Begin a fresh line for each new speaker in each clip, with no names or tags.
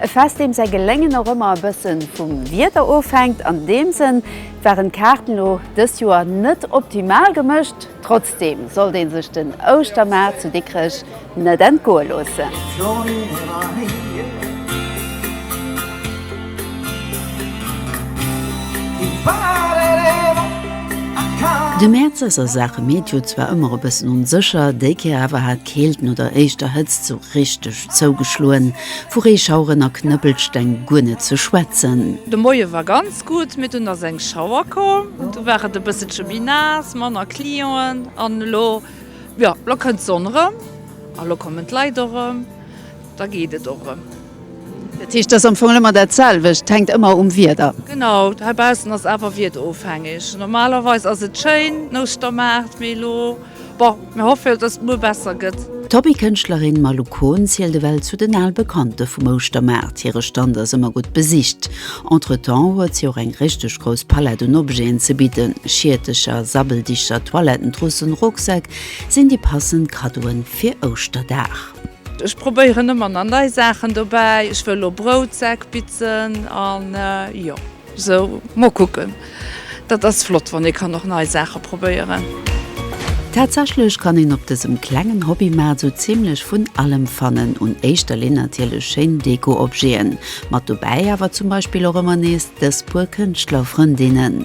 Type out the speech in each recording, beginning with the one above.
E Fest deem säi Geléngen och ëmmer e bësse vum Wieder ofhänkt. An deem Sënn waren d'Kaarten elo dëst Joer net optimal gemëscht. Trotzdeem sollt ee sech den Ouschtermaart zu Dikrech net entgoe loossen. De Mäerz ass a Saache Meteo zwar ëmmer e bëssen onsécher, déi Kéier awer hat d'Keelten oder éischter Hëtzt sou richteg Zougeschloen, vu Reeschaueren a Knëppelsteng guer net ze schwätzen. De Moie war ganz gutt, mee dunn ass eng Schauer komm, du war et e bësselche méi naass, manner Clienten an elo, jo, elo kënnt d'Sonn erëm a elo kommen d'Leit och erëm, da geet et och erëm. Dat heescht, et ass am Fong ëmmer dat selwecht, et hänkt ëmmer um Wieder? Genau, heibaussen ass awer wiederofhängeg. Normalerweis ass et schéin, den Ouschtermaart, mee elo. Bon, mir hoffe jo, dass et muer besser gëtt. D'Hobbykënschtlerin Malou Kohn zielt ewell zu den al Bekannte vum Ouschtermaart. Hire Stand ass ëmmer gutt besicht. Entretemps huet si och eng richteg grouss Palett un Objeten ze bidden. Schiertecher, Sabbeldichter, Toilettentrussen, Rucksäck sinn déi passend Kaddoen fir Ouschterdag. Ech probéieren ëmmer nach nei Saachen dobäi. Ech wëll elo Broutsäck bitzen an jo. Sou, mol kucken. Dat ass flott, wann ee kann och nei Saache probéieren. Tatsächlech kann een op dësem klengen Hobbymaart sou zimlech vun allem fannen. Un éischter Linn natierlech schéin Deko-Objeten. Mat dobäi awer zum Beispill och ëmmer nees dës puer Kënschtlerfrëndinnen.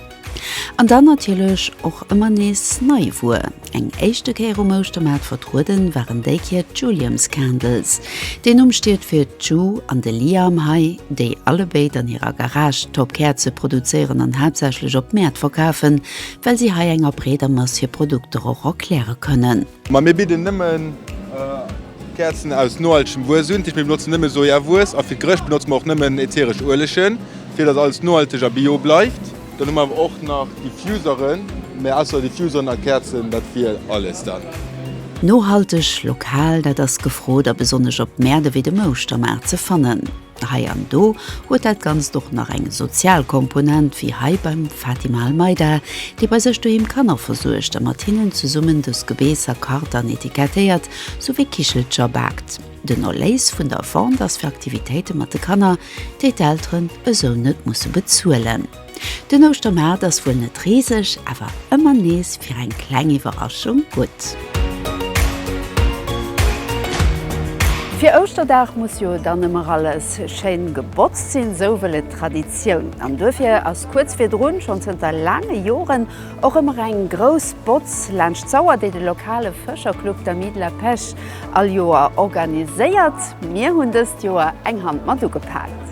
An dann natierlech och ëmmer nees nei Wuer. Eng éischte Kéier um Ouschtermaart vertrueden waren déi Kier d'Juliams Candles. Deen Numm steet fir d'Ju an de Liam Hay, déi allebéid an hirer Garage top Käerze produzéieren an haaptsächlech op Mäert verkafen, well si hei enger breeder Mass hir Produkter och erkläre kënnen. Ma mir bidden nëmmen Käerzen aus nohaltegem Wues un. Mir benotzen nëmme Sojawues a fir d'Gerëscht benotze mer och nëmmen ätheresch Uelegen, fir datt alles nohalteg a bio bleift. Dann hu mer awer och nach Diffuseren, mä ausser Diffuseren a Käerzen, dat wier alles dann. Nohalteg, lokal, dat ass gefrot a besonnesch op Mäerte wéi dem Ouschtermaart ze fannen. Hei an do huet dat Ganzt och nach eng sozial Komponent, wéi hei beim Fatima Almeida, déi bei sech doheem Kanner versuergt a mat hinnen zesummen dës Gebeesser kart an etikettéiert, souwéi Kichelcher baakt. Den Erléis vun der Vente ass fir Aktivitéite mat de Kanner, déi d'Elteren esou net musse bezuelen. Den Ouschtermaart ass wuel net riseg, awer ëmmer nees fir eng kleng Iwwerraschung gutt. Fir Ouschterdag muss jo dann ëmmer alles schéin gebotzt sinn, esou wëll et d'Traditioun. An duerfir ass kuerz virdrun, schonn zënter laange Joren, Och ëmmer eng grouss Botz laanscht d'Sauer, déi de lokale Fëscherclub d'Amis de la Pêche all Joer organiséiert. Mir hunn dëst Joer eng Hand mat ugepaakt.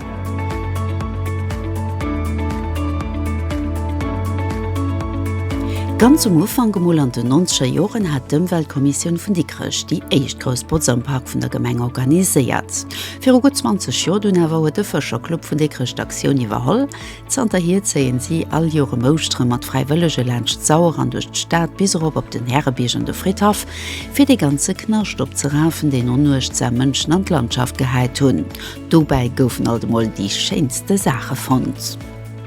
Ganz um Ufank, emol an den nonzeger Joren, hat d'Ëmweltkommissioun vun Dikrech déi éischt grouss Botz am Park vun der Gemeng organiséiert. Viru gutt 20 Joer dunn awer huet de Fëscherclub vun Dikrech d'Aktioun iwwerholl, Zanterhier zéien si all Joer em Ouschteren mat Fräiwëllege laanscht d'Sauer an duerch d'Stad bis erop op den Härebierg an de Fridhaff, fir dee ganze Knascht opzerafen, deen onuechtsam Mënschen an d'Landschaft gehäit hunn. Dobäi goufen alt emol déi schéinste Saache fonnt.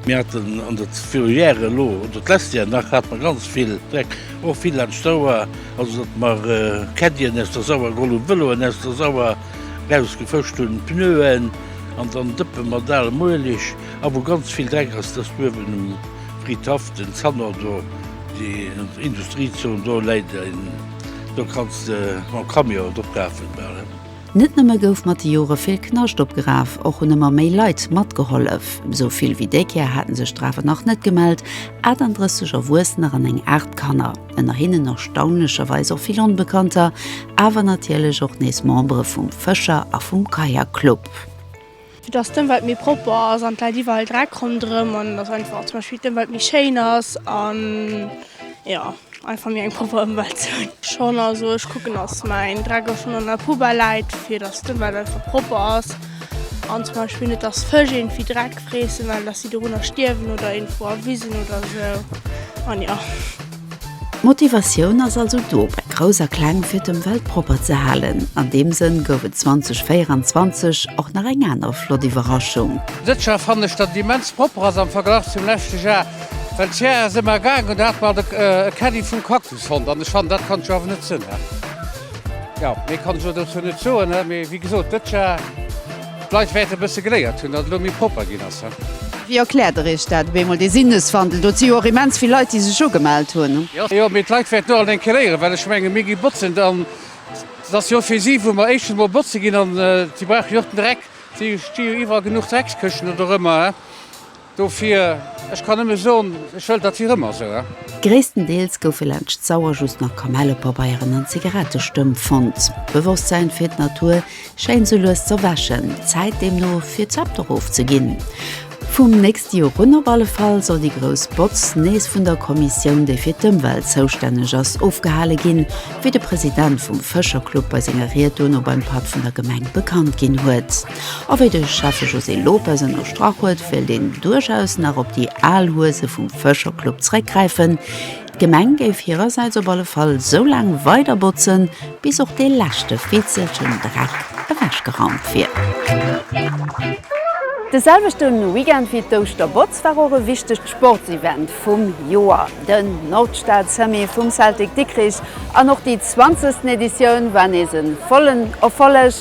Mir haten an der Ferroviaire elo, oder d'lesst Jar nach, hate mer ganz vill Dreck, och vill laanscht d'Sauer, also datt mer Caddien aus der Sauer geholl hunn, Vëloen aus der Sauer erausgefëscht hunn, Pneuen an dann Dëppe mat alem Ueleg. A wou ganz vill Dreck ass, dass uewen um Fridhaff den Zanor do, déi Industriezon do läit, do kanns de mam Camion drop lafen. Net nëmme gouf mat de Jore vill Knascht opgeraf, och hunn ëmmer méi Leit matgehollef. Esou vill wéi déi Kéier haten sech der awer nach net gemellt, 38 Erwuessener an eng Aart Kanner, ënner hinnen erstaunlecherweis och vill Onbekannter, awer natierlech och nees Membere vum Fëscher a vum Kajakclub. Fir dass d'Ëmwelt méi propper ass an et läit iwwerall Dreck ronderëm an dass einfach zum Beispill d'Ëmwelt méi schéin ass an jo einfach méi eng propper Ëmwelt ze hunn. Schonn, also ech kucken, dass mäin Dreck och schonn an der Poubelle läit, fir dass d'Ëmwelt einfach propper ass an zum Beispill net, dass Fësch iergendwéi Dreck freessen, well dass si dorunner stierwen oder iergendwou a Wisen oder esou an jo. D'Motivatioun ass also do bei Grouss a Kleng fir d'Ëmwelt propper ze halen. An deem Sënn gouf et 2024 och nach eng aner flott Iwwerraschung. Dëst Jar fannen ech dat et immens propper ass am Verglach zum leschte Jar, well dëst Jar ass ëmmer gaangen an do hat mer alt e Caddy vum Cactus fonnt an ech fannen dat kann ech jo awer net sënn. Jo, méi kann ech elo dozou net soen, mee wéi gesot dëst Jar. D'Leit wäerte bësse geléiert hunn, datt et elo méi propper ginn ass. Wéi erkläert Der Iech dat op eemol, dee Sinneswandel? Do huet si jo och immens vill Leit, déi sech ugemellt hunn. Jo, mee d'Leit wäerten och an eng Kéier léieren, well ech mengen, mir gi botzen an et ass jo fir si, wou mer éischtens emol botze ginn an si brauchen jo och den Dreck. Si sti jo iwwerall genuch Dreckskëschten oder ëremmer. Dofir, ech kann nëmme soen, ech wëll dat fir ëmmer esou. Gréisstendeels goufe laanscht d'Sauer just nach Kamellepabeieren an Zigarettestëmp fonnt. D'Bewosstsäin fir d'Natur schéint esou lues z'erwächen. Zäit deemno fir d'Zepter ofzeginn. Vum nächste Joer un op alle Fall soll déi grouss Botz nees vun der Kommissioun, déi fir d'Ëmwelt zoustänneg ass, ofgehale ginn, wéi de President vum Fëscherclub bei senger Ried duerno beim Patt vun der Gemeng bekannt ginn huet. A wéi de Schäffe José Lopes ënnerstrach huet, wéilt een duerchaus nach op déi al Huese vum Fëscherclub zeréckgräifen. D'Gemeng géif hirersäits op alle Fall sou laang weider botzen, bis och dee leschte Fitzelchen Dreck ewechgeraumt wier. De selwechte Weekend wéi d'Ouschterbotz war och e wichtegt Sportsevent vum Joer, den Nordstad-Summy vum Celtic Dikrich. An och déi zwanzegsten Editioun war nees e vollen Erfolleg.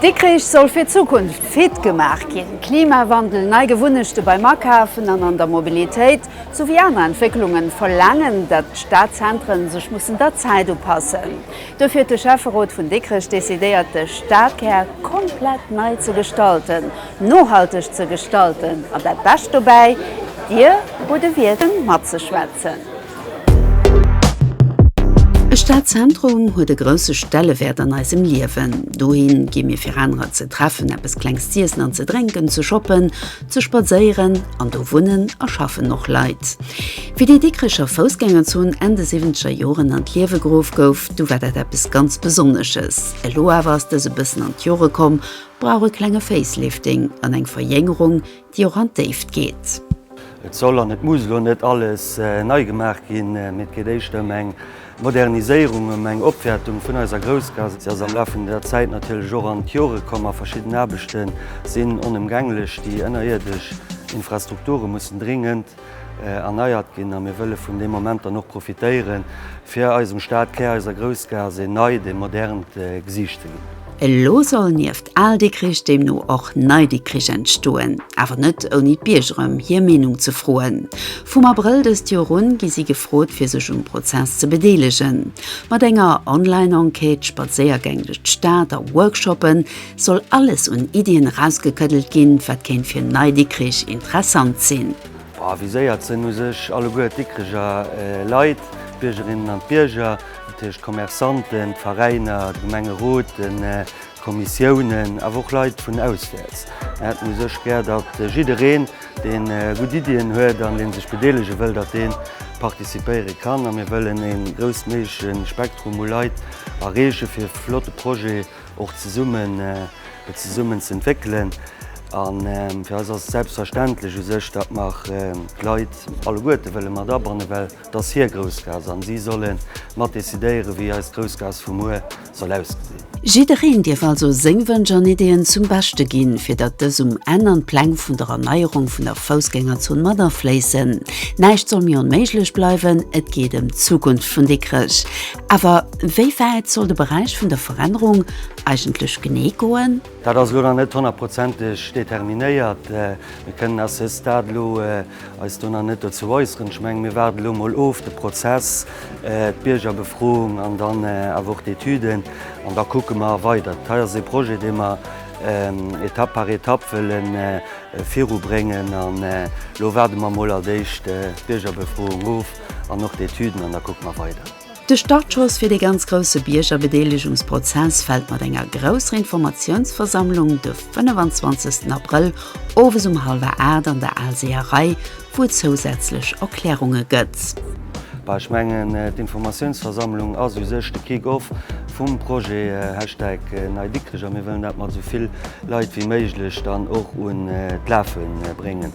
Dikrich soll fir d'Zukunft fit gemaach ginn, Klimawandel, nei Gewunnechte beim Akafen an an der Mobilitéit, souwéi aner Entwécklunge verlaangen, datt d'Stadzentren sech mussen der Zäit upassen. Dofir huet de Schäfferot vun Dikrech decidéiert, de Stadkär komplett nei ze gestalten, nohalteg ze gestalten. An dat Bescht dobäi, Dir hutt e Wiert em matzeschwätzen. E Stadzentrum huet e grousse Stellewäert an eisem Liewen. Dohi gi mir fir anerer ze treffen, eppes Klengs z'iessen an ze drénken, ze shoppen, Ze spadséieren, an do wunnen a schaffen och Leit. Wéi déi Dikricher Foussgängerzon Enn de siwwenzeger Joren an d'Liewe geruff gouf, du war dat eppes ganz Besonnesches. Elo awer ass dës e bëssen an d'Jore komm, brauch e klenge Facelifting an eng Verjéngerung, déi och an d'Déift geet. Et soll an et muss elo net alles nei gemaach ginn, mee et geet éischter ëm eng Moderniséierung, ëm eng Opwäertung vun eiser Groussgaass. Si ass am Laf vun der Zäit natierlech och an d'Jore komm a verschidden Aarbechte sinn onëmgänglech. Déi ënnerierdesch Infrastrukture mussen dringend erneiert ginn a mir wëlle vun deem Moment dann och profitéieren, fir eisem Stadkär, eiser Groussgaass, een neit, ee modernt Gesiicht ze ginn. Elo soll nieft Al-Dikrich deemno och Nei-Dikrich entstoen, awer net ouni d'Bierger ëm hir Meenung ze froen. Vum Abrëll dëst Joer un gi si gefrot fir sech um Prozess ze bedeelegen. Mat enger Online-Enquête, Spadséiergäng duerch d'Stad a Workshoppe soll alles un Iddien erausgekëddelt ginn, wat kéint fir Nei-Dikrich interessant sinn. Viséiert sinn u sech alleguer d'Dikkreger Leit, d'Biergerinnen an d'Bierger, dat heescht d'Commerçanten, d'Veräiner, de Gemengerot, de Kommissiounen, awer och Leit vun auswäerts. Mir hätten u sech gär, datt jiddereen, dee gutt Iddien huet an dee sech bedeelege wëll, datt dee participéiere kann. A mir wëllen e groussméigleche Spektrum u Leit erreechen, fir e flotte Projet och zesummen et zesummen ze entwéckelen an fir eis ass et selbstverständlech u sech, datt mer d'Leit alleguerte wëlle mat abannen, well et ass hir Groussgaass an si solle mat decidéieren, wéi eis Groussgaass vu muer soll ausgesinn. Jiddereen dierf also seng Wënsch an Ideeën zum Beschte ginn, fir datt dës um Enn an d'Pläng vun der Erneierung vun der Foussgängerzon mat afléissen. Näischt soll méi onméiglech bleiwen, et geet ëm d'Zukunft vun Dikrech. Awer wéi wäit soll de Beräich vun der Verännerung eigentlech genee goen? Dat ass elo nach net honnertprozenteg determinéiert. Mir kënnen à ce stade elo eis do nach net dozou äusseren. Ech mengen, mir waarden elo emol of, de Prozess, d'Biergerbefroung an dann awer och d'Etüden. An da kucke mer weider. Dat hei ass ee Projet, dee mer Etapp par Etapp wëlle virubréngen. An elo waarde mer emol als éischt d'Biergerbefroung of. An och d'Etüden, an da kucke mer weider. De Startschoss fir dee ganz grousse Biergerbedeelegungsprozess fält mat enger grousser Informatiounsversammlung de 25 Abrëll owes um hallwer 8 an der Aalseeërei, wou et zousätzlech Erklärunge gëtt. Bah, ech mengen, d'Informatiounsversammlung ass u sech de Kick-off vum Projet Hashtag Nei Dikrech a mir wëllen dat mat esou vill Leit wéi méiglech dann och un d'Lafe bréngen.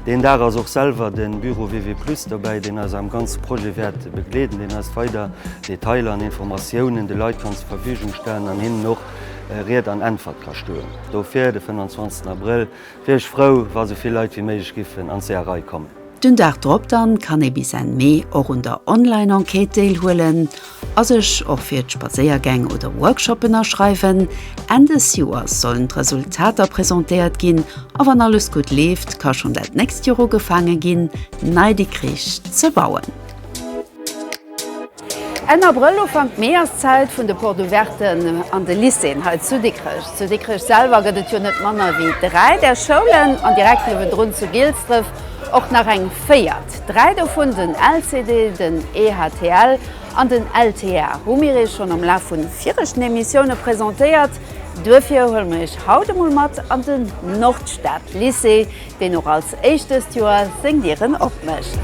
Deen Dag ass och selwer de Büro WW Plus dobäi, deen eis am ganze Projet wäert begleeden, deen eis weider Detailer an Informatiounen de Leit kann zur Verfügung stellen an hinnen och Ried an Äntwert ka stoen. Dofir, de 25 Abrëll, wier ech frou, wa esou vill Leit wéi méiglech giffen an d'Seeërei kommen. Den Dag drop dann kann ee bis Enn Mee och un der Online-Enquête deelhuelen. A sech och fir d'Spadséiergäng oder Workshoppen aschreiwen. Enn des Joers sollen d'Resultater presentéiert ginn a wann alles gutt leeft, ka schonn dat nächst Joer ugefaange ginn, d'Nei Dikrich ze bauen. Enn Abrëll, Ufank Mee ass d'Zäit vun de Porte Ouverten an de Lycéeën hei zu Dikrech. Zu Dikrech selwer gëtt et jo net manner wéi dräi där Schoulen an direkt niewendrun zu Gilsdref och nach eng véiert. Projekt. Dräi dovun, den LCD, den EHTL an den LTA, hu mir Iech schonn am Laf vu viregten Emissioune presentéiert. Duerfir huele mir Iech haut emol mat an den Nordstad-Lycée, deen och als éischt dëst Joer seng Dieren opmécht.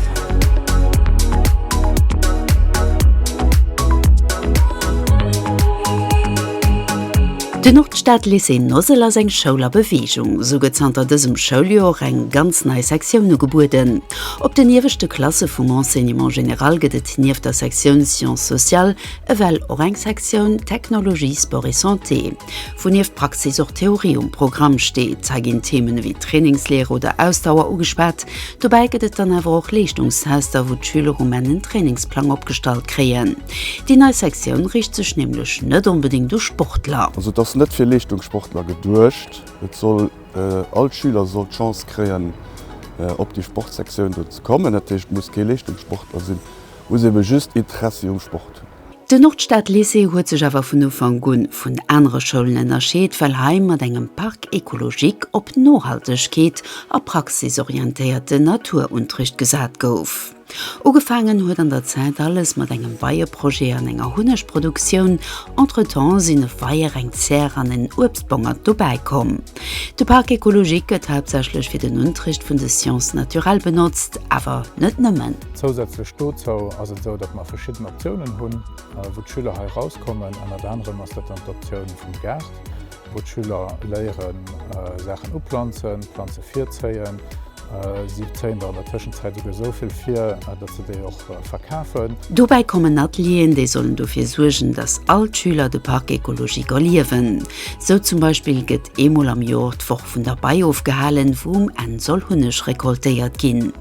De Nordstad Lycée Nossel ass eng Schoul a Beweegung. Sou gëtt zanter dësem Schouljoer eng ganz nei Sektioun ugebueden. Op den ieweschte Klasse vum Enseignement général gëtt et nieft der Sektioun Sciences sociales ewell och eng Sektioun Technologie, Sport et Santé, wou nieft Praxis och Theorie um Programm steet. Hei ginn Themen ewéi Trainingslehre oder Ausdauer ugespat. Dobäi gëtt et dann awer och Leeschtungstester, wou d'Schüler um Enn en Trainingsplang opgestallt kréien. Déi nei Sektioun riicht sech nämlech net onbedéngt u Sportler. Also et ass net fir Leeschtungssportler geduecht. Et soll, all Schüler soll d'Chance kréien op déi Sportsektioun do ze kommen. Dat heescht, muss kee Leeschtungssportler sinn, muss ebe just Interessi um Sport hunn. Den Nordstad-Lycée huet sech awer vun Ufank un vun anere Schoulen ënnerscheet, well hei mat engem Parc écologique op Nohaltegkeet a praxisorientéierte Naturuntricht gesat gouf. Ugefaangen huet an der Zäit alles mat engem Weieprojet an enger Hunnegproduktioun. Entretemps sinn e Weier, eng Zär an en Uebstbongert dobäi komm. De Parc écologique gëtt haaptsächlech fir den Unterricht vun de Sciences naturelles benotzt, awer net nëmmen. Zousätzlech dozou ass et esou, datt mer verschidden Optiounen hunn, wou d'Schüler hei erauskommen. Ënnert anerem ass dat dann d'Optioun vum Gaart, wou d'Schüler léieren, Saachen uplanzen, Planze virzéien. Si zéien der an der Tëschenzäit esouguer esou vill vir, datt se déi och verkafen. Dobäi kommen Atelieren, déi sollen dofir suergen, datt all d'Schüler de Parc écologique erliewen. Sou zum Beispill gëtt eemol am Jor d'Woch vun der Bei ofgehalen, wou um Enn soll Hunneg recoltéiert ginn.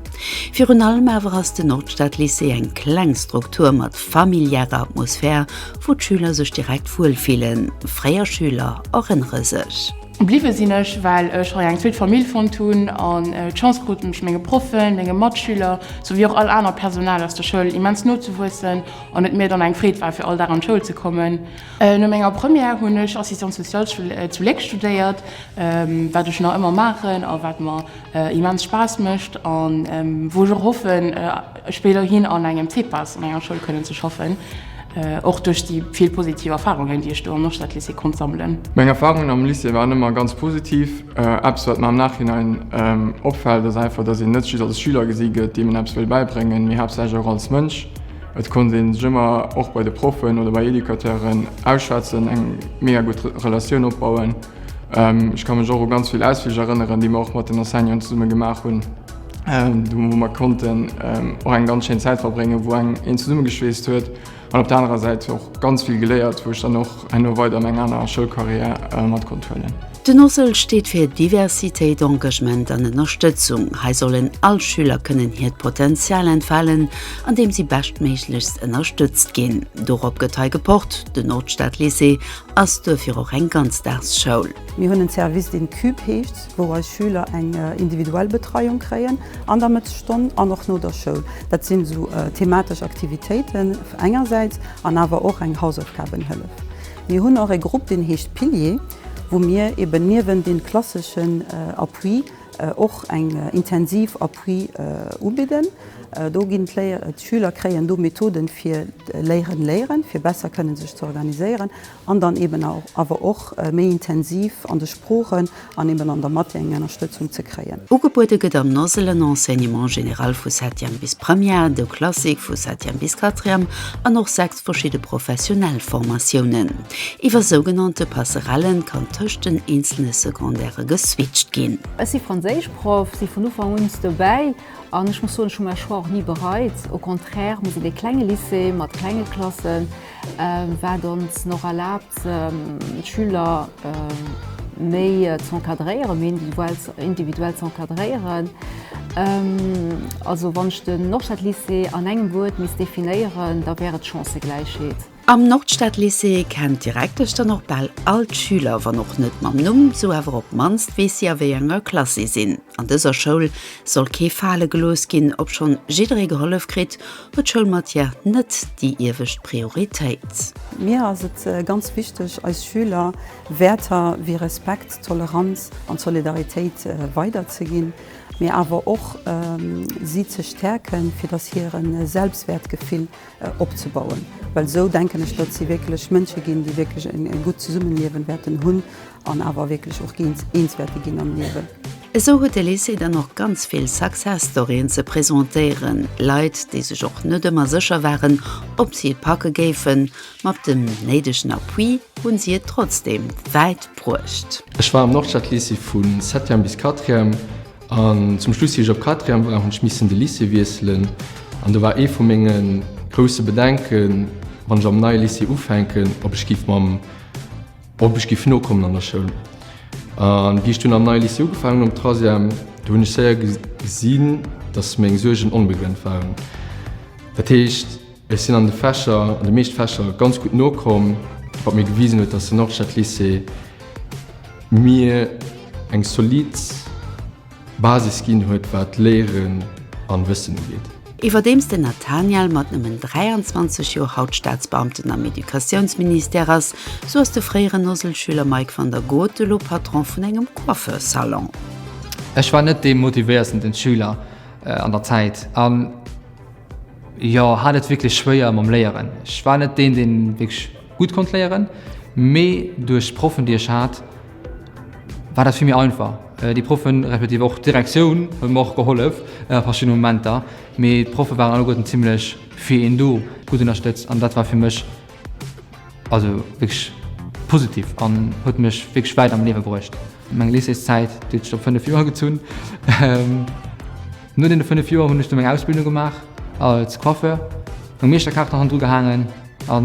Virun allem awer ass den Nordstadlycée eng kleng Struktur mat familiärer Atmosphär, wou d'Schüler sech direkt wuel fillen. Fréier Schüler erënnere sech. Bliwwe sinn ech, well ech hei eng zweet Famill fonnt hunn an d'Chance krut, mech menge Proffen, menge Matschüler souwéi och all aner Personal aus der Schoul immens no ze wuessen an et mir dann eng Freed war, fir all Dag an d'Schoul ze kommen. No menger Première hunn ech Assistante sociale zu Léck studéiert, wat ech nach ëmmer maachen a wat mer immens Spaass mécht a wou ech och hoffen, Ech wéilt och hin an engem CPAS an enger Schoul kënnen ze schaffen, och duerch déi vill positiv Erfarungen, déi ech do am Noschteltlycée konnt sammelen. Meng Erfarungen am Lycée waren ëmmer ganz positiv. Eppes, wat mer am Nachhinein opfält, ass einfach, dass een net just als Schüler gesi gëtt, deem een eppes wëll bäibréngen, mee haaptsächlech och als Mënsch. Et konnt ee sech ëmmer och bei de Proffen oder bei Educateuren ausschwätzen, eng mega gutt Relatioun opbauen. Ech ka mech och u ganz vill Ausflich erënneren, déi mer och mat den Enseignanten zesumme gemaach hunn. wou mer konnten och eng ganz schéin Zäit verbréngen, wou eng een zesummegeschweesst huet an op der anerer Säit och ganz vill geléiert, wou ech dann och herno weider an eng aner Schoulcarrière mat konnt huelen. Den OSL steet fir Diversitéit, Engagement an Ënnerstëtzung. Hei sollen all Schüler kënnen hiert Potenzial entfalen, andeem si beschtméiglechst ënnerstëtzt ginn. Dorop gëtt hei gepocht. Den Nordstadlycée ass duerfir och eng Ganzdagsschoul. Mir hunn en Service, deen CUBE heescht. wou eis Schüler eng individuell Betreiung kréien an der Mëttesstonn an och no der Schoul. Dat sinn esou thematesch Aktivitéiten engersäits an awer och eng Hausaufgabenhëllef. Mir hunn och e Grupp, deen heescht Pilier, wou mir eben niewent deem klasseschen Appui och eng intensiv Appui ubidden. Do ginn d'Schüler kréien do Methoden fir Léieren, Léieren, fir besser kënnen sech ze organiséieren. an dann eben awer och méi intensiv an de Sproochen an eben an der Mathé eng Ennerstëtzung ze kréien. Ugebuede gëtt am NOSL en Enseignement général vu Septième bis Première, de Classique vu Septième bis Quatrième an och sechs verschidde professionell Formatiounen. Iwwer sougenannte Passerellen kann tëscht den eenzele Secondairë geswitcht ginn. Ech si Franséischproff, si vun Ufank uns dobäi an ech muss soen, ech hu mäi Choix och ni bereit. Au contraire, mir sinn ee klenge Lycée mat klenge Klassen. Wat ons och erlaabt, d'Schüler méi z'encadréieren, méi individuell z'encadréieren. Also wann ech den Nordstadlycée an engem Wuert misst definéieren, da wär et Chancëgläichheet. Am Nordstadlycée kennt d'Direktesch dann och bal all d'Schüler, wann och net mam Numm, sou awer op d'mannst weess si a wéi enger Klass si sinn. An dëser Schoul soll kee fale gelooss ginn, obschonn jidderee gehollef kritt, huet d'Schoulmatière net déi iewescht Prioritéit. Mir ass et ganz wichteg, eis Schüler Wäerter wéi Respekt, Toleranz an Solidaritéit weiderzeginn, mee awer och si ze stäerken, fir datt hire Selbstwäertgefill opzebauen, well esou denken ech, datt si wierklech Mënsche ginn, déi wierklech e gutt Zesummeliewen wäerten hunn An awer wierklech och géint Eenzwäerte ginn am Liewen. Esou huet de Lycée dann och ganz vill Success-Storyen ze presentéieren, Leit, déi sech och net ëmmer sécher waren, ob si et packe géifen. Mat dem néidegen Appui hu si et trotzdeem wäit bruecht. Ech war am Nordstadlycée vu Septième bis Quatrième an zum Schluss, wéi ech op Quatrième war, hunn ech missen de Lycée wiesselen. An do war ee vu menge grousse Bedenken, wann ech am neie Lycée ufänken, ob ech géif mam. Ob ech giff nokommen an der Schoul. An wéi ech dunn am neie Lycée ugefaangen hunn, am Trasièm, do hunn ech séier gesinn, datt meng Suergen onbegrënnt waren. Dat heescht, ech sinn an de Fächer, an de meescht Fächer ganz gutt nokomm, wat mir gewisen huet, datt den Norstadlycée mir eng solid. Basis ginn huet wat Léieren an Wëssen ugeet. Iwwerdeems den Nathaniel mat nëmmen 23 Joer haut Staatsbeamten am Educatiounsministère ass, sou ass de fréieren Noselschüler Mike van der Goot elo Patron vun engem Coiffeur-Salon. Ech war net dee motivéiertsten Schüler an der Zäit a jo hat et wierklech schwéier mam Léieren. Ech war net deen, deen wierklech. Gutt konnt léieren, mee duerch d'Proffen déi ech hat war dat fir mir einfach. Déi Proffen, respektiv och d'Direktioun huet mer och gehollef a verschiddene Momenter, mee d'Proffe waren alleguerten zimmlech fir een do, gutt ënnerstëtzt an dat war fir mech also wierklech positiv an huet mech wierklech wäit am Liewe bruecht. Meng Lycéeszäit, déi huet sech op 5 Joer gezunn. No deene 5 Joer hunn ech du meng Ausbildung gemaach als Coiffeur, meng Meeschterkaart hannendru gehaangen a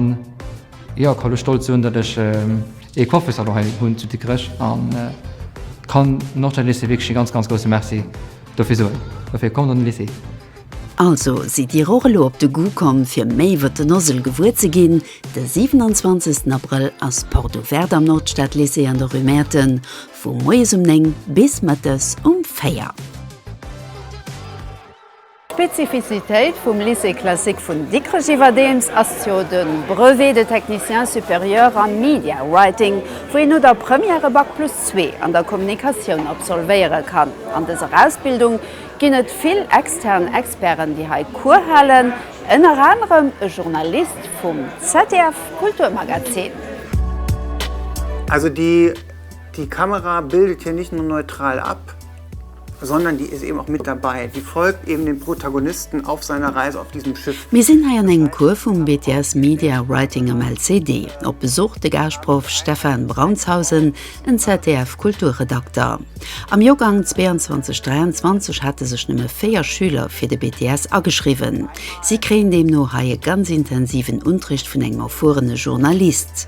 jo, ka lo stolz soen, datt ech ee Coiffesalon hei hunn zu Dikrech a kann Nordstad Lycée wierklech ee ganz, ganz grousse Merci dofir soen. Dofir kommt an den Lycée! Also sidd Dir och elo op de Goût komm fir méi iwwert den Ozell gewuer ze ginn? De 27 Abrëll ass d'Porte Ouverte am Nordstad Lycée an der Rue Mäerten. Vu moies um 9 bis mëttes um 4. D'Spezifizitéit vum Lycée classique vun Dikrech iwwerdeems ass jo de Brevet de technicien supérieur am Media Writing, wou een no der Première e Bac plus zwee an der Kommunikatioun absolvéiere kann. An dëser Ausbildung ginn et vill extern Experten, déi hei Cours halen, ënner anerem e Journalist vum ZDF-Kulturmagazin. Also déi Die Kamera bildet hier nicht nur neutral ab, sondern die ist eben auch mit dabei, die folgt eben dem Protagonisten auf seiner Reise auf diesem Schiff. Mir sinn hei an engem Cours vum BTS Media Writing am LCD. Op Besuch de Gaaschproff Stefan Brantshausen, en ZDF-Kulturredakter. Am Joergang 22 23 hate sech nëmme 4 Schüler fir de BTS ageschriwwen. Si kréien deemno hei e ganz intensiven Unterricht vun engem erfuerene Journalist.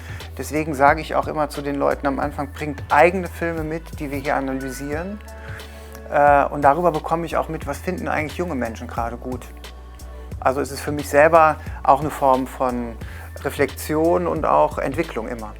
Deswegen sage ich auch immer zu den Leuten am Anfang, bringt eigene Filme mit, die wir hier analysieren. Äh, und darüber bekomme ich auch mit, was finden eigentlich junge Menschen gerade gut. Also es ist für mich selber auch eine Form von Reflexion und auch Entwicklung immer.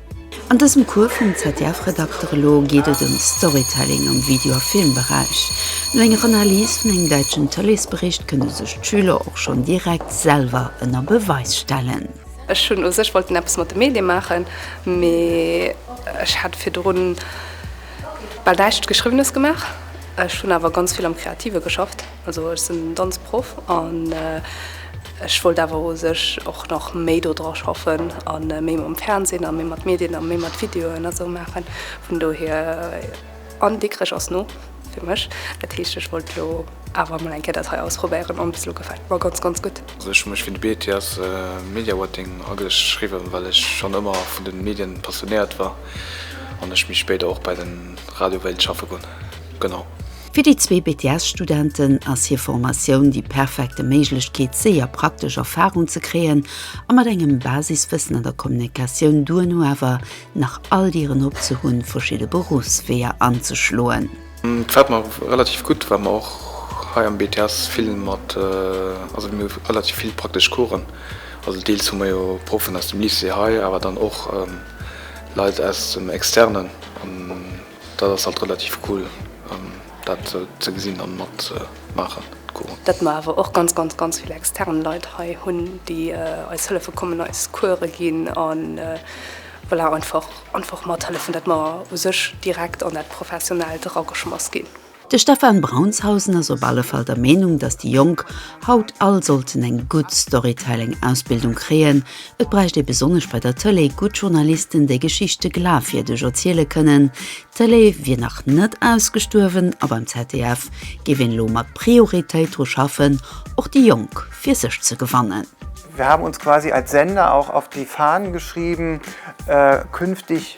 An diesem Kur vum ZDF-Redakter Lo geht es um Storytelling am Video- a Filmbereich. No enger Analys vun engem däitschen Tëleesbericht kënne sech d'Schüler och schonn direkt selwer ënner Beweis stellen. Ech hunn u sech wollten eppes mat de Medie maachen, mee ech hat virdrun bal näischt Geschriwwenes gemaach. Ech hunn awer ganz vill am Kreative geschafft, also ech sinn Danzproff an ech wollt awer u sech och nach méi do dra schaffen a méi mam Fernsinn a méi mat Medien a méi mat Videoen a sou maachen. Vun dohier. An Dikrech ass no fir mech. Dat heescht ech wollt elo awer emol eng Kéier dat hei ausprobéieren an bis elo gefält mer ganz ganz gutt. Also ech hu mech fir de BTS Mediawatting ageschriwwen, well ech schonn ëmmer vun de Medien passionéiert war an ech méi spéider och bei de Radio wéilt schaffe goen. Genau. Fir déi zwee BTS-Studenten ass hir Formatioun déi perfekte Méiglechkeet séier praktesch Erfarung ze kréien a mat engem Basiswëssen an der Kommunikatioun duerno awer nach all Dieren op ze hunn, verschidde Beruffsweeër anzeschloen. Et gefält mer relativ gutt, well mer och hei am BTS vill mat, also mir hu relativ vill praktesch Coursen, also deels hu mer jo Proffen aus dem Lycée hei, awer dann och Leit aus dem Externen. Dat ass halt relativ cool dat ze gesinn an mat maachen cool. Dat mer awer och ganz ganz ganz vill extern Leit hei hunn déi eis hëllefe kommen, eis Coure ginn an voilà einfach einfach mathëllefen, dat mer u sech direkt an dat Professionellt erageschmass ginn. De Stefan Braunshausen ass op alle Fall der Meenung, datt déi Jonk haut all sollten eng gutt Storytelling-Ausbildung kréien. Et bräicht ee besonnesch bei der Tëlee gutt Journalisten, déi Geschichte glafwierdeg erziele kënnen. D'Tëlee wier nach net ausgestuerwen a beim ZDF géif een elo mat Prioritéit dru schaffen, och déi Jonk fir sech ze gewannen. Wir haben uns quasi als Sender auch auf die Fahnen geschrieben, künftig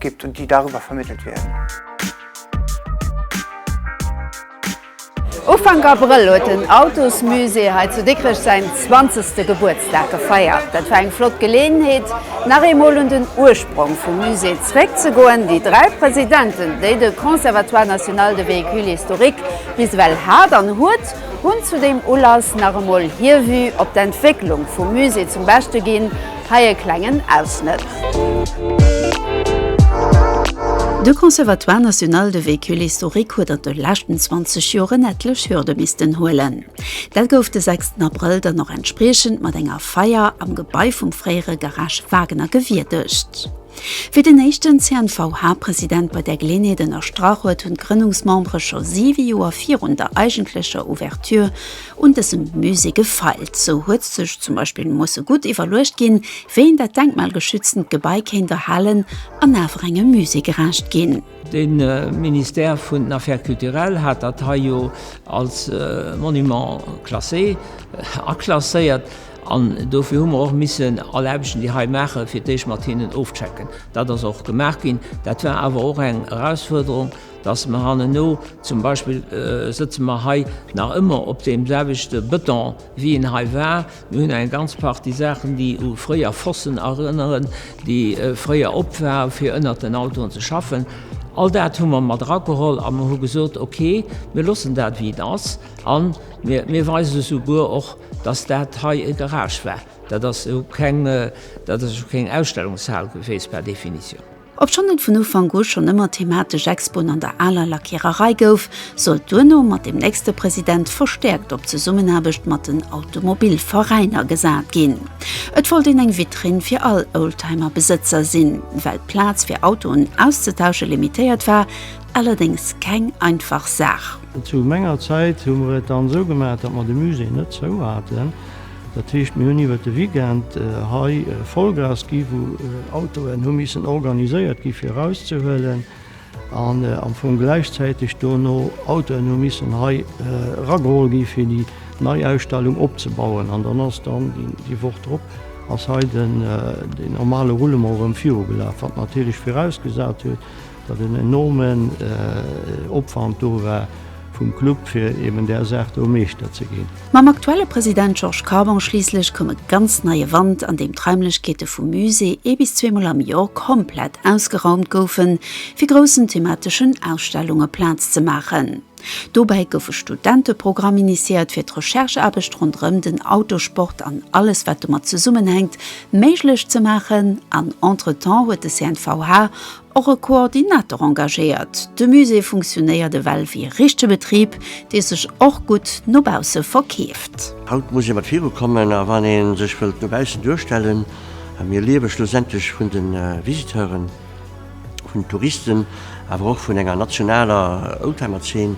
gibt und die darüber vermittelt werden. Ufank Abrëll huet den Autosmusée hei zu Dikrech säin 20. Gebuertsdag gefeiert. Dat war eng flott Geleeënheet, nach eemol un den Ursprong vum Musée zeréckzegoen, déi dräi Presidenten, déi de Conservatoire national de véhicules historiques bis ewell hat an huet, hunn zu deem Ulass nach emol hir Vue op d'Entwécklung vum Musée zum Beschte ginn. Hei e klengen Ausschnëtt. De Conservatoire national de véhicules historiques huet an de leschten 20 Joren etlech Hürde missten huelen. Dat gouf de 6 Abrëll dann och entspriechend mat enger Feier am Gebai vum fréiere Garage Wagner gewierdegt. Wéi den éischten CNVH-President bei där Geleënheet ënnerstrach huet, hunn d'Grënnungsmembere scho 7 Joer virun der eigentlecher Ouverture Un dësem Musée gefeilt, sou huet sech zum Beispill d'Moosse gutt iwwerluecht ginn, wéi een dat denkmalgeschütztent Gebai kéint erhalen an awer engem Musée gerecht ginn. De Ministère vun den Affaires culturelles hat dat hei jo als Monument classé aklasséiert an dofir hu mer och missen all Aarbechten, déi hei maachen, fir d'éischt mat hinnen ofchecken. Dat ass och gemaach ginn. Dat war awer och eng Erausfuerderung, Dass mer hanneno, zum Beispill sëtze mer hei nach ëmmer op deem selwechte Bëton, wéi en hei war. Mir hunn eng ganz Partie Saachen, déi u fréier Fossen erënneren, déi fréier op waren, fir ënnert den Autoen ze schaffen. All dat hu mer mat erageholl a mer hu gesot, Okay, mir loossen dat, wéi et ass. A mir weisen esouguer och, dass dat hei e Garage war. Dat ass jo keng Ausstellungshal geweest, par Definition. Obschonn et vun Ufank u schonn ëmmer thematesch Expoen an der aler Lackiererei gouf, sollt duerno mat dem nächste President verstäerkt op d'Zesummenaarbecht mat den Automobilveräiner gesat ginn. Et wollt een eng Vitrinn fir all Oldtimerbesëtzer sinn. Well d'Plaz fir Autoen auszetauschen limitéiert war allerdéngs keng einfach Saach. Zu menger Zäit hu mer et dann esou gemaach, datt mer de Musée net zou haten, Dat heescht, mir hunn iwwert de Weekend hei Vollgas gi wou Autoen hu missen organiséiert gi fir erauszehuelen an am Fong gläichzäiteg dono Autoen hu missen hei erageholl gi fir déi nei Ausstellung opzebauen. An dann ass dann déi Woch drop ass hei den normale Roulement erëm virugelaf, wat natierlech virausgesat huet, datt en enormen Opwand do war vum Club, fir eben där Saach do Meeschter ze ginn. Mam aktuelle President Georges Carbon schliisslech koum e ganz neie Wand, an deem d'Raimlechkeete vum Musée ee bis zweemol am Joer komplett ausgeraumt goufen, fir groussen themateschen Ausstellunge Plaz ze maachen. Dobäi gouf e Studenteprogramm initiéiert, fir d'Rechercheaarbecht ronderëm den Autosport an alles, wat domat zesummenhänkt, méiglech ze maachen, an entretemps huet de CNVH och e Koordinator engagéiert. De Musée funktionéiert ewell wéi e richtege Betrib, dee sech och gutt no bausse verkeeft. Haut muss ee mat viru kommen a wann ee sech wëllt no baussen duerstellen. A mir liewe schlussendlech vun de Visiteuren, vun den Touristen, awer och vun enger nationaler Oldtimerzeen.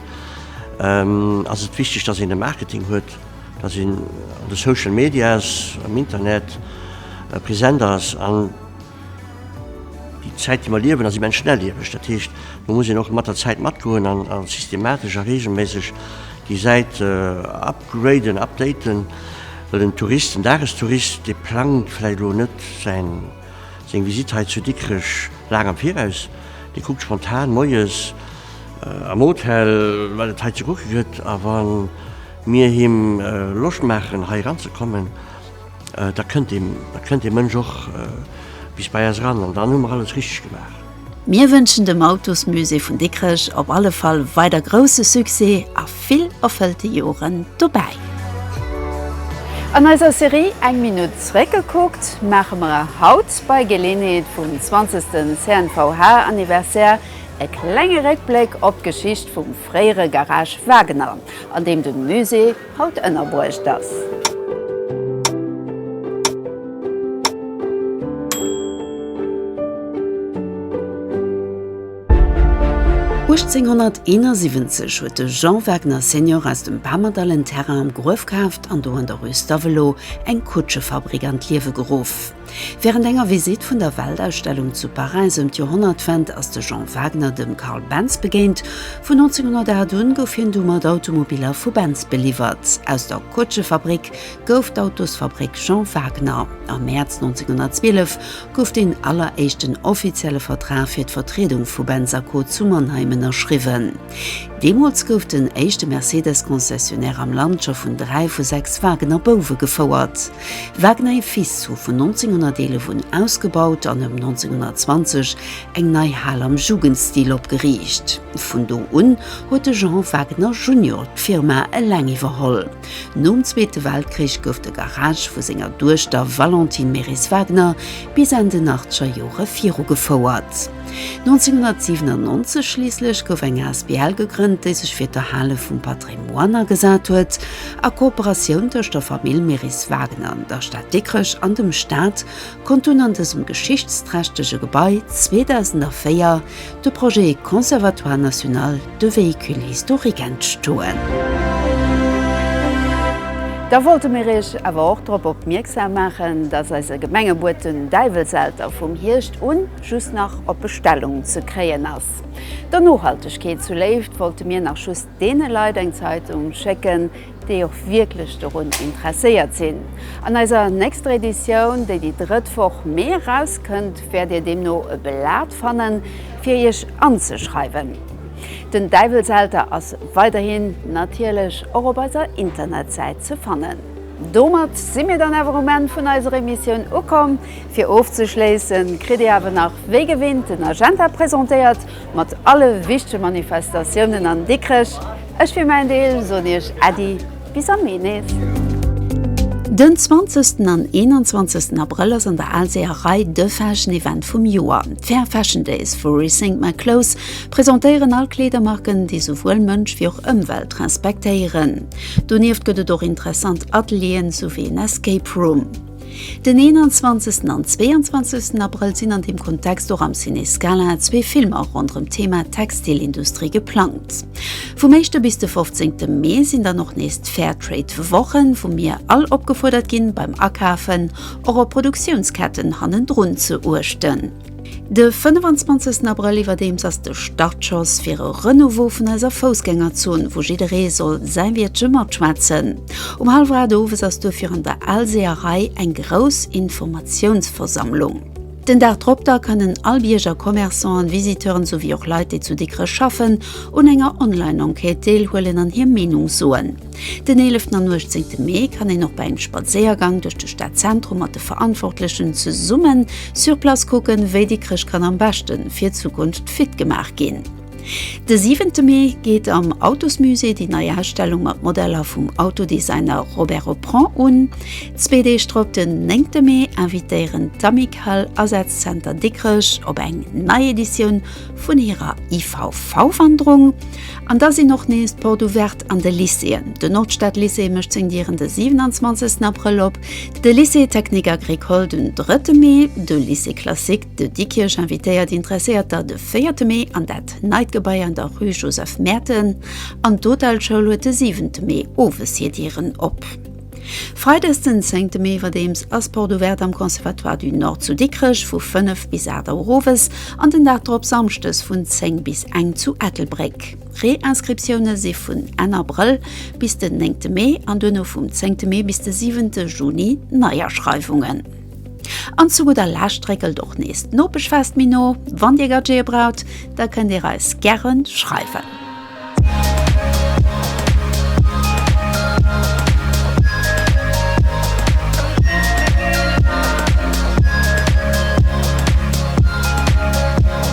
Ass et wichteg, datt een e Marketing huet, datt een an de Social Medias, am Internet present ass an. Déi Zäit, déi mer liewen, ass immens schnellieweg. Dat heescht, do muss een och mat der Zäit matgoen an systematesch a reegelméisseg déi Säit upgraden, updaten, well den Tourist, den Dagestourist, dee plangt vläicht elo net säin, seng Visite hei zu Dikrech laang am Viraus. Dee kuckt spontan moies am Hotel, wat et hei ze kucke gëtt a wa mir him Loscht maachen, hei eranzekommen. Da kënnt ee, da kënnt dee Mënsch och bis bei eis eran an dann hu mer alles richteg gemaach. Mir wënschen dem Autosmusée vun Dikrech op alle Fall weider grousse Succès a vill erfëllte Joren dobäi! An eiser Serie Eng Minutt zeréckgekuckt maache mer haut bei Geleeënheet vum 20. CNVH-Anniversaire e klenge Réckbléck op d'Geschicht vum fréiere Garage Wagener, an deem de Musée haut ënnerbruecht ass. Uechtzénhonnerteenasiwwenzeg huet de Jean Wagner Senior aus dem Bamerdall en Terrain am Gruef kaaft an do an der Rue Stavelot eng Kutschefabrik an d'Liewe geruff. Wärend enger Visitt vun der Weltausstellung zu Paräis ëm d'Joerhonnertwend ass de Jean Wagner dem Carl Benz begéint. Vun 1908 un gouf hien du mat Automobiller vu Benz beliwwert. Aus der Kutschefabréck gouf d'Autosfabréck Jean Wagner. Am Mäerz 1912 gouf deen alleréischten offizielle Vertrag fir d'Vertriedung vu Benz a Co zu Mannheim ënnerschriwwen. Deemools gouf den éischte Mercedes-Concessionnaire am Land scho vun dräi vu sechs Wagner-Bouwe gefouert. Wagner et Fils hu vun 1911 un ausgebaut an ëm 1920 eng nei Hal am Jugendstil opgeriicht. Vun do un huet de Jean Wagner Junior d'Firma eleng iwwerholl. Nom Zweete Weltkrich gouf de Garage vu senger Duechter Valentine Meris-Wagner bis an den Achtgerjore virugefouert. 1997 schliisslech gouf eng Asbl gegrënnt, déi sech fir d'Erhale vum Patrimoine agesat huet, a Kooperatioun tëscht der Famill Meris-Wagner, der Stad Dikrech an dem Staat konnt dunn an dësem geschichtsträchtege Gebai 2004 de Projet Conservatoire national de véhicules historiques entstoen. Da wollte mir Iech awer och drop opmierksam maachen, dass eise Gemengebuet den Däiwelselter vum Hierscht un, just nach op Bestellung ze kréien ass. Der Nohaltegkeet zu Léift wollte mir nach just deene Leit eng Zeitung schécken, déi och wierklech dorun interesséiert sinn. An eiser nächster Editioun, déi déi drëtt Woch Mee erauskënnt, wäert Dir deemno e Blat fannen, fir Iech anzeschreiwen. Den Däiwelselter ass weiderhin natierlech och op eiser Internetsäit ze fannen. Domat si mir dann awer um Enn vun eiser Emissioun ukomm. Fir ofzeschléissen kritt dir awer nach wéi gewinnt den Agenda presentéiert mat alle wichtege Manifestatiounen an Dikrech. Ech fir mäin Deel soen iech Äddi bis am Mee nees. Den 20 an 21 Abrëll ass an der Aalseeërei de Fashion Event vum Joer. D'Fair Fashion Days vu Rethink My Clothes presentéieren all Kleedermarken, déi souwuel Mënsch wéi och Ëmwelt respektéieren. Donieft gëtt et och interessant Atelieren souwéi en Escape Room. Den 21 an 22 Abrëll sinn an deem Kontext och am Ciné Scala zwee Filmer ronderëm d'Thema Textilindustrie geplangt. Vum éischte bis de 15 Mee sinn dann och nees d'Fairtrade-Wochen, wou mir all opgefuerdert ginn, beim Akafen och op Produktiounsketten hannendrun ze uechten. De 25 Abrëll iwwerdeems ass de Startschoss fir e Renouveau vun eiser Foussgängerzon, wou jidderee soll säi Wiertche matschwätzen. Um hallwer 8 owes ass duerfir an der Alseerei eng grouss Informatiounsversammlung. Den Dag drop da kënnen all Bierger, Commerçanten, Visiteuren souwéi och Leit, déi zu Dikrech schaffen, un enger Online-Enquête deelhuelen an hir Meenung soen. Den 11. an 18. Mee kann een och bei engem Spadséiergang duerch de Stadzentrum mat de Verantwortlechen zesummen sur place kucken, wéi déi Chrëschtkanner am beschte fir d'Zukunft fit gemaach ginn. De 7. Mee geet am Autosmusée déi nei Ausstellung mat Modeller vum Autodesigner Robert Opron un. Zwee Deeg drop, den 9. Mee, invitéieren d'Amicale Asazcenter Dikrech op eng nei Editioun vun hirer IVV-Wanderung. An da sinn och nees d'Porte Ouverten An de Lycéeën. De Nordstadlycée mécht seng Dieren de 27 Abrëll op, de Lycée technique agricole den drëtte Mee, de Lycée classique de Dikkirch invitéiert Interesséierter de véierte Mee an dat neit Gebai an der Rue Joseph Merten an d'Hotelschoul huet de siwente Mee owes hir Dieren op. Freides den zéngte Mee iwwerdeems ass Porte ouverte am Conservatoire du Nord zu Dikrech vu 5 bis 8 Auer owes an den Dag drop Samschdes vun 10 bis eng zu Ettelbréck. D'Réinscriptioune si vun Enn Abrëll bis den néngte Mee an duerno vum zéngte Mee bis de siwente Juni d'Neiaschreiwungen. An zu gudder Lescht réckelt och nees d'Nopeschfest méi no. Wann Dir Gadgete braucht, da kënnt Dir eis gäre schreiwen.